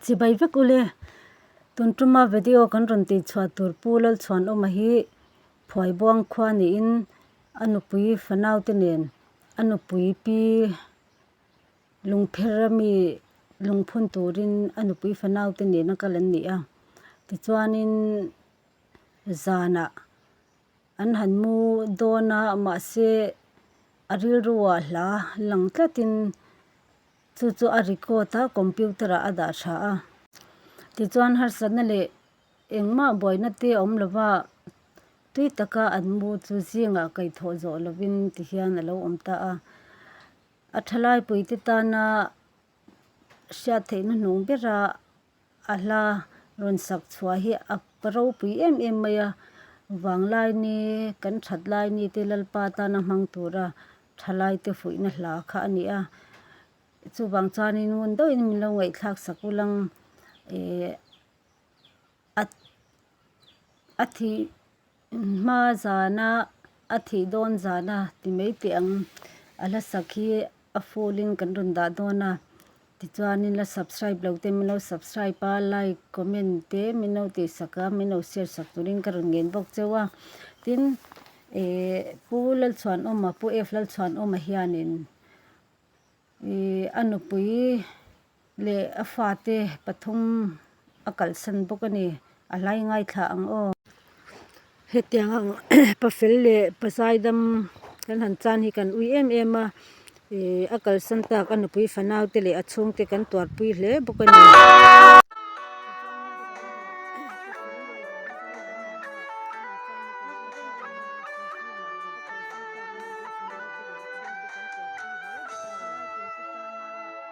Chibai vek ule, tun tuma video kan rawn tih chhuah tur Pu Lalchhuanawma hi phuai buang khua niin a nupui fanaute nen a nupui pi lungpher a mi lungphun turin a nupui fanaute nen a kal an ni a. Tichuanin zanah an han mu dawn a mahse a rilru a hla lang tlatin. Chu chu a record a computer ah a dah tha a. Tichuan harsatna leh engmah buaina te awm lova tui taka an mu chu zingah kaihthawh zawh lovin ti hian a lo awm ta a. A thalaipui te tana hriattheihna hnung bera A hla rawn sak chhuah hi a ka ropui em em mai a, vang laini kan that laini te Lalpa tana hmang tura tha laite fuihna hla kha a ni a, chuvang chuanin ngun deuhin min lo ngaihthlak sak ulh ang e, a thih Hma zana a thih dawn zana ti mai teh ang, a hla sak hi a full in kan rawn dah dawn a, tichuan in la subscribe lo te min lo subscribe a, like comment te min lo tih sak a, min lo share sak tur in ka rawn ngen bawk cheu a, tin eh Pu Lalchhuanawma, Pu F Lalchhuanawma hian in eh a nupui, Leh a fate pathum a kalsan bawk a ni. A hlai ngaithla ang aw. Hetiang ang pa fel leh pa zai dam kan han chan hi kan ui em em a. Ih a kalsan tak a nupui fanau te leh a chhung te kan tuar pui hle bawk a ni.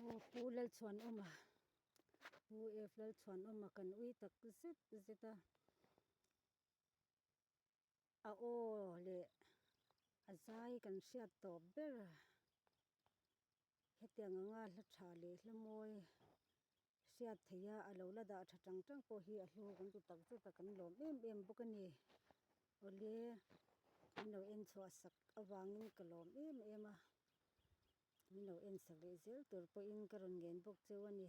Aw pu Lalchhuanawma pu F Lalchhuanawma kan ui tak zet zet a, a aw leh a zai kan hriat tawp ber a, hetiang anga hla tha leh hla mawi. hriat theih a a lo la dah tha tang tang pawh hi a hlu kan ti tak zet a kan lawm em em bawk a ni awle min lo en chhuah sak avangin ka lawm em em a min lo en sak leh zel tur pawhin ka rawn ngen bawk cheu a ni.